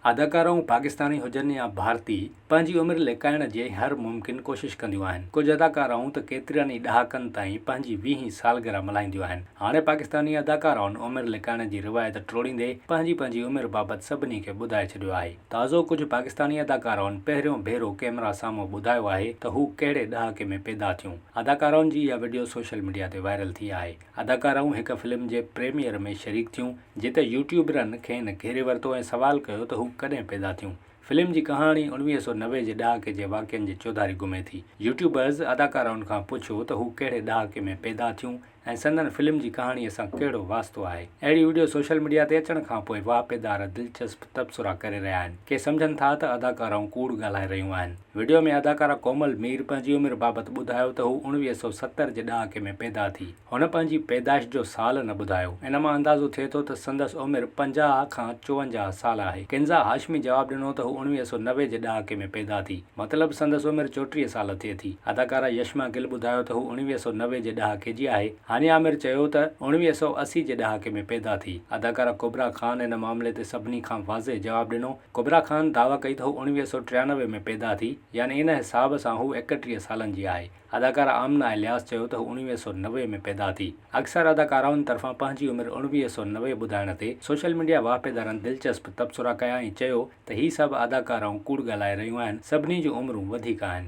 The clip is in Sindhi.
اداڪارائون پاڪستاني هجن يا ڀارتي، پنهنجي عمر لڪائڻ جي هر ممڪن ڪوشش ڪنديون آهن. ڪجهه اداڪارائون ته ڪيترن ئي ڏهاڪن تائين پنهنجي ويهين سالگرهه ملهائينديون آهن. هاڻي پاڪستاني اداڪارائن عمر لڪائڻ جي روايت ٽوڙيندي پنهنجي پنهنجي عمر بابت سڀني کي ٻڌائي ڇڏيو آهي. تازو ڪجهه پاڪستاني اداڪارائن پهريون ڀيرو ڪئميرا سامهون ٻڌايو آهي ته هو ڪهڙي ڏهاڪي ۾ پيدا ٿيون. اداڪارائن جي اها وڊيو سوشل ميڊيا تي وائرل ٿي آهي. اداڪارائون هڪ فلم جي پريميئر ۾ شريڪ ٿيون، جتي يوٽيوبرن کين گهيري ورتو ۽ سوال ڪيو ته هو ڪڏهن پيدا ٿيون. فلم جي ڪهاڻي انويهه سؤ نوي جي ڏهاڪي جي واقعن جي چوڌاري گهمي ٿي. يوٽيوبرز اداڪارائن کان پڇيو ته هو ڪهڙي ڏهاڪي ۾ پيدا ٿيون ۽ سندن فلم جي ڪهاڻيء سان ڪهڙو واسطو آهي. اهڙي وڊيو سوشل ميڊيا تي اچڻ کان پوء واهپيدار دلچسپ تبصرا ڪري رهيا آهن. ڪي سمجهن ٿا ته اداڪارائون ڪوڙ ڳالهائي رهيون آهن. وڊيو ۾ اداڪارا ڪومل مير پنهنجي عمر بابت ٻڌايو ته هو اڻويهه سؤ ستر جي ڏهاڪي ۾ پيدا ٿي. هن پنهنجي پيدائش جو سال نه ٻڌايو. ان مان اندازو ٿئي ٿو ته سندس عمر پنجاهه کان چونجاهه سال آهي. ڪنزا هاشمي جواب ڏنو ته هو اڻويهه سؤ نوي جي ڏهاڪي ۾ پيدا ٿي. مطلب سندس عمر چوٽيهه سال ٿئي ٿي. اداڪارا يشما گل ٻڌايو ته هو اڻويهه سؤ نوي جي ڏهاڪي جي آهي. هاني عامر چيو ته اڻويهه سؤ اسي جي ڏهاڪي ۾ پيدا ٿي. اداڪارا ڪبرا خان ان معاملي تي سڀني کان واضح جواب ڏنو. ڪبريٰ خان دعويٰ ڪئي ته هو اڻويهه سؤ ٽيانوي ۾ پيدا ٿي، يعني ان حساب سان هو ايڪٽيهه سالن جي آهي. اداڪارا آمنه الياس چيو ته هو اڻويهه سؤ نوي ۾ پيدا ٿي. اڪثر اداڪارائن طرفان پنهنجي عمر اڻويهه سؤ نوي ٻڌائڻ تي سوشل ميڊيا واهپيدارن دلچسپ تبصرا ڪيا ۽ چيو ته هي سڀ اداڪارائون ڪوڙ ڳالهائي رهيون آهن، سڀني جون عمرون وڌيڪ آهن.